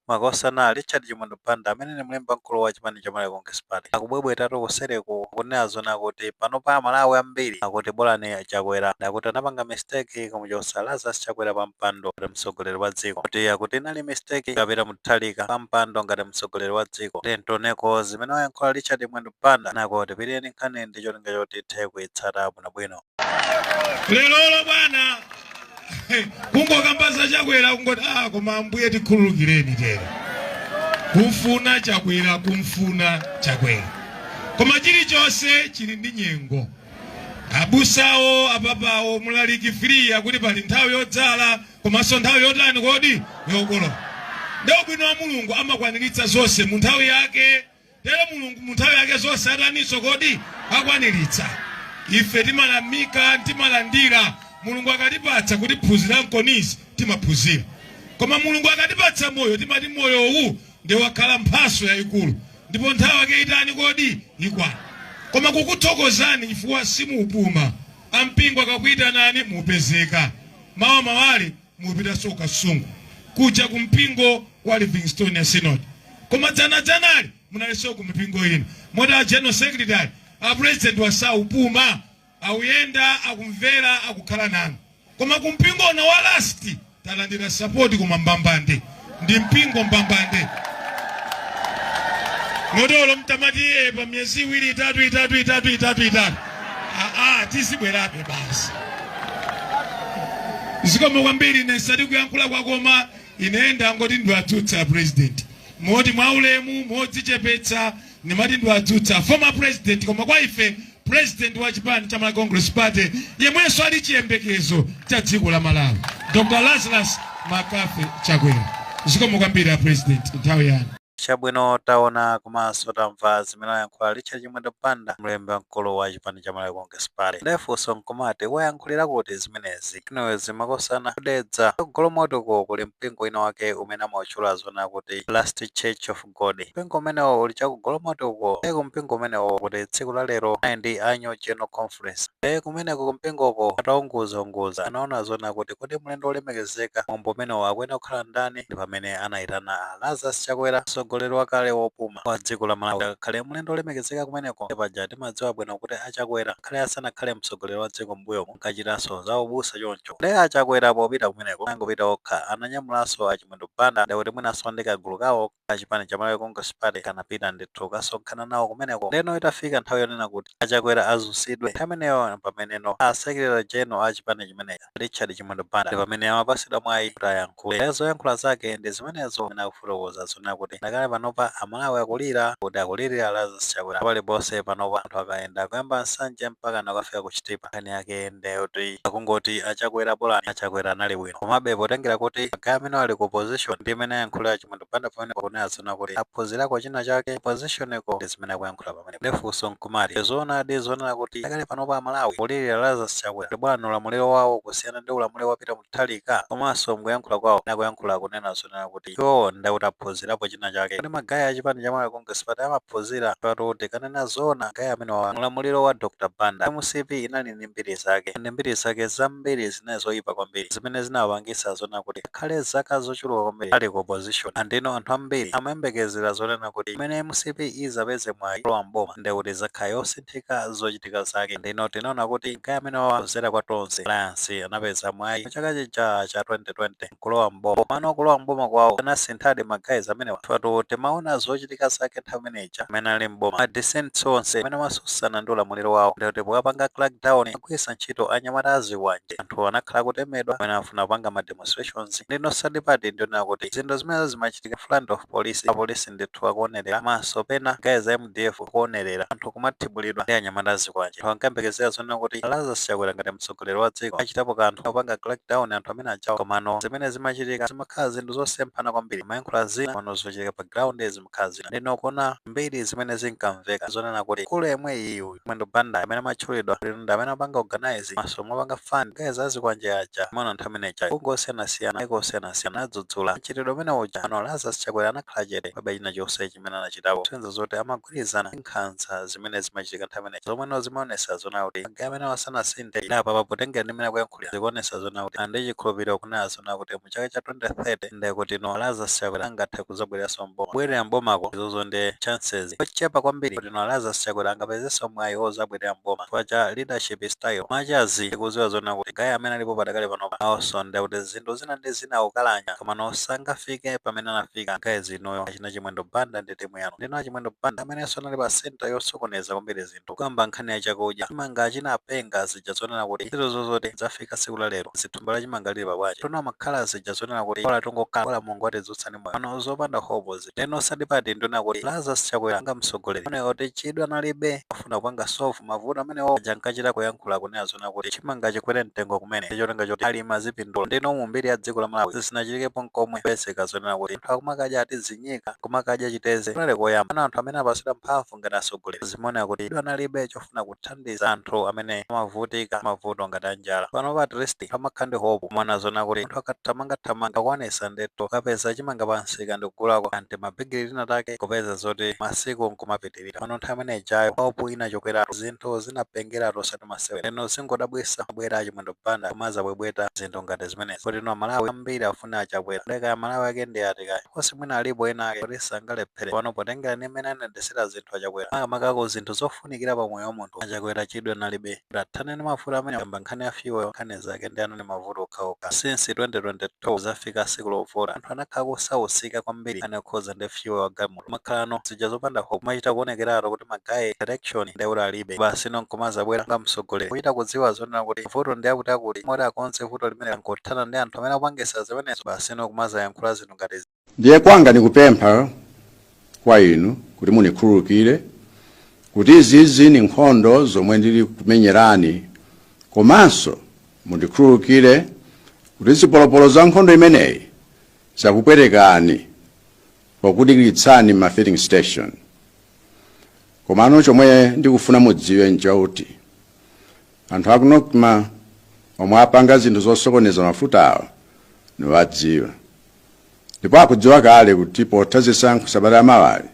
Makosana, Richard Chimwendo Banda amene ni mlembi wamkulu wa chipani cha Malawi Congress Party akubwebwetatu kuseliku kunena zoona akuti panopa Amalawi ambili akuti bolani a Chakwera akuti anapanga mistake kumuchotsa Lazarus Chakwera pa mpando ngati mtsogoleri wa dziko kuti akuti inali mistake kuika Peter Mutharika pa mpando ngati mtsogoleri wa dziko. Tiyeni tioneko zimene wayankhula Richard Chimwendo Banda kenako tipitirire ndi nkhani ndi cholinga choti tithe kuitsata bwinobwino. lelolo bwana kungokamba za Chakwera kungoti ah koma ambuye tikhululukireni tero kumfuna chakwera kumfuna chakwera koma chilichonse chili ndi nyengo abusawo apapawo mulaliki free akuti pali nthawi yodzala komanso nthawi yotani kodi yokolola ndi wabwino wa mulungu amakwaniritsa zonse mu nthawi yake Tero Mulungu munthawi yake zonse ataninso kodi akwanilitsa. Ife timayamika, timalandira. Mulungu akatipatsa kuti phunzira mkonzi, timaphunzira. Koma Mulungu akatipatsa moyo, timati moyo uwu nde wakhala mphatso yayikulu. Ndipo nthawi yake itani kodi ikwana. Koma kukuthokozani chifukwa simuupuma. A mpingo akakuitanani mukupezeka. Mawamawali mupitanso ku kasungu kuja ku mpingo wa livingstonia synod koma dzana dzanali munalinso ku mipingo ina moti a general secretary a president awa sakupuma akuyenda akumvera akukhala nanu koma ku mpingo uno wa lasti talandira sapoti koma mbambande ndi mpingo mbambande moti olo mutamatiiyika pa miyezi iwiri itatu itatu itatu itatu itatu aa tizibwerabe basi zikomo kwambiri ine si ati kuyankhula kwa koma ine ndangoti ndiwadzutse president moti mwaulemu modzichepetsa Ndimati ndiwadzutse former president koma kwa ife president wa chipani cha Malawi Congress Party yemwenso ali chiyembekezo cha dziko la Malawi Dr. Lazarus McCarthy Chakwera. Zikomo kwambiri a president nthawi yanu. Chabwino taona komanso tamva zimene ayankhula Richard Chimwendo Banda mlembi wamkulu wa chipani cha Malawi Congress Party. Ndiye funso nkumati wayankhulira kuti zimenezi inetu makosana ku Dedza ku Golomoti ko kuli mpingo wina wake umene amautchula zona kuti Last Church of God. Mpingo umenewo uli chaku Golomoti uko. Ndiye ku mpingo umenewo kuti tsiku la lero anali ndi annual general conference. Ndiye kumeneko ku mpingoko ataunguzaunguza anaona zona kuti kodi mlendo wolemekezeka mwambo umenewo akuyenera kukhala ndani ndi pamene anaitana a Lazarus Chakwera mtsogoleri wakale wopuma wa dziko la Malawi kuti akakhale mlendo wolemekezeka kumeneko. Ndiye paja timadziwa bwino kuti a Chakwera ngakhale asanakhale mtsogoleri wa dziko m'mbuyomu ankachitanso za ubusa choncho. Ndiye a Chakwera popita kumeneko sanangopita okha ananyamulanso a Chimwene Mwendo Banda ndekuti mwinanso ndi kagulu kawo ka chipani cha Malawi Congress Party kanapita ndithu kukasonkhana nawo kumeneko ndeno itafika nthawi yonena kuti a Chakwera azunzidwe nthawi imeneyo mpameneno a Secretary General a chipani chimenechi a Richard Chimwendo Banda ndi amene amapatsidwa mwayi kuti ayankhule ndiye zoyankhula zake ndi zimenezo amene akufotokoza zonena kuti ndakale panopa a Malawi akulira kuti akulilira Lazarus Chakwera paliponse panopa anthu akayenda kuyamba nsanje mpakana kukafika ku Chitipa nkhani yake ndeyoti akungoti achakwera bolani achakwera anali bwino komabe potengera kuti magaye amene ali ku opposition ndi mmene ayankhulira achimwendo banda pamenepo kunena zoona kuti aphunzirako china chake oppositioneko ndi zimene akuyankhula pamene ndefunso nkumati zoonadi zonena kuti ndakale panopa amalawi akulirira lazarus chakwera ndi bolani ulamuliro wawo kusiyana ndi ulamuliro wa pita mutharika komanso mkuyankhula kwawo akuyankhula kunena zonena kuti Iwowo nde kuti aphunzirapo china chake. Kodi ma guy a chipani cha Malawi Congress Party amaphunzira? Apatu tikanena zoona, ma guy amenewa mu ulamuliro wa Dr Banda, mcp inali ndi mbiri zake. And mbiri zake zambiri zinali zoyipa kwambiri zimene zinawapangitsa zonena kuti akhale zaka zochuluka kwambiri ali ku opposition. And inu anthu ambiri amayembekezera zonena kuti pamene mcp izapeze mwayi kulowa m'boma nde kuti izakhala yosinthika zochitika zake. And inu tinaona kuti ma guy amenewawa kudzera mwa Tonse alliance anapeza mwayi mu chaka chija cha 2020. kulowa m'boma komano kulowa m'boma kwawo anasinthadi ma guys amenewa chifukwa timaona zochitika zake nthawi imene ija amene ali m'boma ma dissidents onse amene amasusana ndi ulamuliro wawo ndiye kuti popanga crackdown amagwirisa ntchito anyamata azikwanje anthu anakhala akutemedwa amene amafuna kupanga ma demonstrations ndino sad part ndi yonena kuti zinthu zimenezo zimachitika in front of police apolisi ndithu akuonerera komanso pena guys a mdf akuonerera anthu akumathibulidwa ndi anyamata azikwanje. Anthu ankayembekezera zonena kuti a Lazarus Chakwera ngati mtsogoleri wa dziko achitapo kanthu kupanga crackdown anthu amene ajawa komano zimene zimachitika zimakhala zinthu zosemphana kwambiri. Amayankhula zina komano zochitika pa ground zimakhala zina. Ndeno kuona mbiri zimene zinkamveka zonena kuti mkulu yemwe uyu Mwendo Banda amene amatchulidwa kuti ndi amene amapanga organise komanso kumapanga fund guys a zikwanje aja amaona nthawi imene ijayi mabungwe osiyanasiyana mayiko osiyanasiyana anadzudzula mchitidwe umene uja komano Lazarus Chakwera anakhala chete palibe china chonse chimene anachitapo kusonyeza zoti amagwirizana ndi nkhanza zimene zimachitika nthawi imene ija zomweno zimaonesa zonena kuti magaye amenewa sanasinthe nde apapa potengera ndi mmene akuyankhulira Chakwera zikuonesa zonena kuti ali ndi chikhulupiriro kunena zoona kuti mu chaka cha 2030 nde kuti inu a Lazarus Chakwera angathe kuzabwereranso m'boma. Kubwerera m'bomako izozo ndi chances yochepa kwambiri kuti inu a Lazarus Chakwera angapezenso mwayi ozabwerera m'boma chifukwa cha leadership style much as tikuziwa zonena kuti guy amene alipo padakali panopa naonso nde kuti zinthu zina ndi zina akukalanya komano sangafike pamene anafika guys inuyo achina Chimwendo Banda ndi timu yanu ndi inuyo a Chimwendo Banda amenenso anali pa centre yosokoneza kwambiri zinthu. tikukamba nkhani ya chakudya chimanga chinapenga zija zonena kuti ntchito zozoti zafika tsiku la lero zithumba la chimanga lili pabwanji tono makhala zija zonena kuti bola tingokhala bola mulungu watidzutsa ndi moyo pano zopanda hope ndeno osati pati ndona kuti lazarus chakwera nga mtsogoleri oneka kuti chidwi analibe chofuna kupanga solve mavuto amenewo uja ankachita kuyankhula kunena zonena kuti chimanga chikwere mtengo kumene ndi cholinga choti alimi azipindula ndeno mu mbiri ya dziko la malawi zisinachitikepo nkomwe kupezeka zonena kuti anthu akumakadya ati zinyika kumakadya chiteze kunali koyamba ana anthu amene apasidwa mphamvu Mulungu ngati atsogoleri zimaoneka kuti chidwi analibe chofuna kuthandiza anthu amene amavutika mavuto ngati a njala. Panopa at least pamakhala ndi hope kumaona zonena kuti munthu akathamangathamanga akwanitsa ndithu kukapeza chimanga pa msika ndi kugulako ka n'timabigiri tina take n'kupeza zoti masiku n'kumapitirira. Komano nthawi imene ijayo hope inachokeratu, zinthu zinapengeratu osati masewera. Ndeno zingodabwitsa kubwera a Chimwendo Banda n'kumadzabwebweta zinthu ngati zimenezi. kuti no a Malawi ambiri a funa achakwera kaya amalawi ake ndi ati kaya of course mwina alipo ena ake kuti sangalephere pano potengera ndi mmene anayendesera zinthu achakwera makamaka ku zinthu zofunikira pa moyo wa munthu achakwera chidwi analibe kuti athane ndi mavuto amene kamba nkhani ya fuel nkhani zake ndiye anali mavuto okhaokha since 2022 zafika siku lovota anthu anakhala akusausika kwambiri nkhani yokhuza ndi fuel wa galimoto makhalano zija zopanda hope kumachita kuonekeratu kuti ma guy direction ndiye alibe basi no nkumazabwera nga mtsogoleri kuchita kudziwa zonena kuti vuto ndi akuti akuti moti akonze vuto limene nkuthana ndi anthu amene akupangisa zimenezo basi no kumazayankhula zinthu ngati zi- ndiye kwanga nikupempha kwa inu kuti munikhululukire kuti izizi ni nkhondo zomwe ndili kumenyerani komanso mundikhululukire kuti zipolopolo za nkhondo imeneyi zakupwetekani Pokudikiritsani mma filling station. Komano chomwe ndikufuna mudziwe nchouti anthu aku Nocma omwe apanga zinthu zosokoneza mafutawa niwadziwa ndipo akudziwa kale kuti potha zisankho sabata yamawayi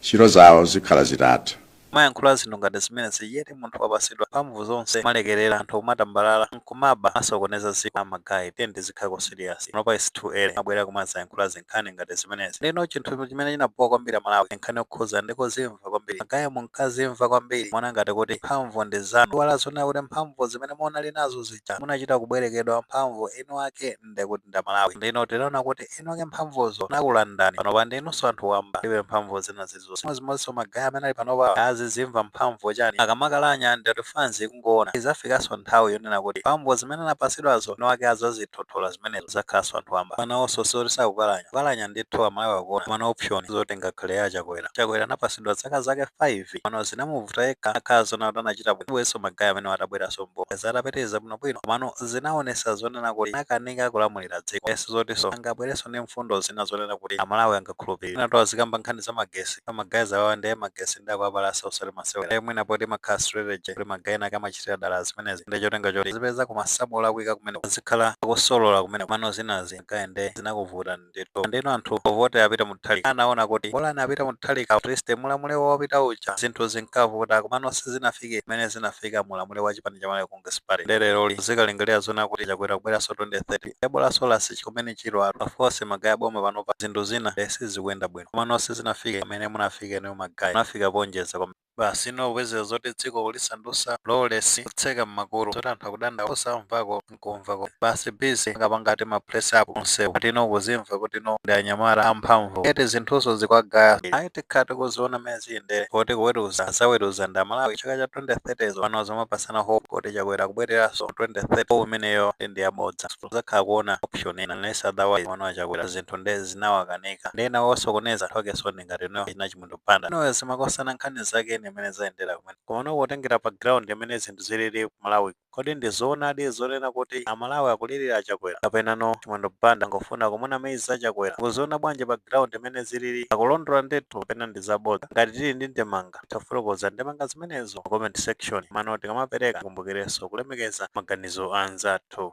ntchito zawo zikhala zitatha. Kumayankhula zinthu ngati zimenezi yet munthu wapasidwa mphamvu zonse kumalekelera anthu kumatambalala nkumaba kumasokoneza dziko a ma guy tiyeni tizikhako serious panopa its too early kumabwera kumazayankhula zinkhani ngati zimenezi ndeno chinthu chimene chinabhowa kwambiri amalawi ndinkhani yokhuza ndi kuzimva kwambiri ma guy munkazimva kwambiri kumaona ngati kuti mphamvu ndi zanu mwaiwala zonena kuti mphamvu zimene munali nazo zija munachita kubwerekedwa mphamvu eni ake nde kuti ndi amalawi ndeno tinaona kuti eni ake mphamvuzo anakulandani panopa ndinunso anthu wamba mulibe mphamvu zina zilizonse chimodzimodzinso ma guy amene ali panopa azizimva mphamvu chani akamakalanya ndati fans ikungoona izafikanso nthawi yonena kuti mphamvu zimene anapasidwazo eni ake azazithothola zimenezo azakhalanso anthu wamba nawonso sizoti sakukalanya kukalanya ndithu amalawi akuona koma no option zoti ngakhale a chakwera chakwera anapasidwa zaka zake 5 pano zinamuvuta yekha kukhala zonena kuti anachita bwino sibwenso ma guy amenewa atabweranso mboma atapitiriza bwino komano zinaonesa zonena kuti anakanika kulamulira dziko ndiye sizotinso angabwerenso ndi mfundo zina zonena kuti amalawi angakhulupilire mwinatu azikamba nkhani za magesi koma guys awawa ndiye magesi nde akuwapalasa osati masewera ndiye mwina poti imakhala strategy kuti magayi enaake amachitira dala zimenezi ndiye chotenga choti azipeza kumasamu olakwika kumeneko azikhala akusolola kumeneko komano zinazi guy nde zinakuvutani. ndithu ndeno anthu povotera a peter mutharika anaona kuti bolani a peter mutharika at least muulamuliro wopita uja zinthu zinkavuta komano sizinafike mmene zinafika muulamuliro wa chipani cha malawi congress party nde leroli zikalingalira zonena kuti chakwera kubweranso 2030 ebolaso lasi chikumene chilo atu aforce magayi a boma panopa zinthu zina sizikuyenda bwino komano sizinafike mmene munafika inuyo magayi munafika poonjeza kwambiri. Basi inu kupezera zoti dziko kulisandusa lawless kutseka mmakutu zoti anthu akudandaula osamvako nkumva komwe basi busy kungopanga ati ma press up kunsewu ati inu kuzimva kuti inu ndi anyamata amphamvu eti zinthunso zikwagaya ayi tikhala tikuziona mene ziyendere poti kuweruza azaweruza ndi amalawi chaka cha 2030 zo pano zomapasana hope kuti chakwera akubwereranso 2030 hope imeneyo ndi ndiyabodza muzakhala kuona option ina unless otherwise komano achakwera zinthu nde zinawakanika ndi ena osokoneza anthu akenso ndi ngati inuyo achina Chimwendo Banda ndiye azimakosana nkhani zake ndi mmene zayendera kumene komano kutengera pa ground mmene zinthu zilili ku Malawi kodi ndi zoonadi zonena kuti amalawi akulirira achakwera kapenanso Chimwendo Banda angofuna kumunamiza achakwera mukuziona bwanji pa ground mmene zilili akulondola ndithu kapena ndi zabodza ngati tili ndi ndemanga tafotokoza ndemanga zimenezo mu comment section komano tikamapereka tikumbukirenso kulemekeza maganizo a anzathu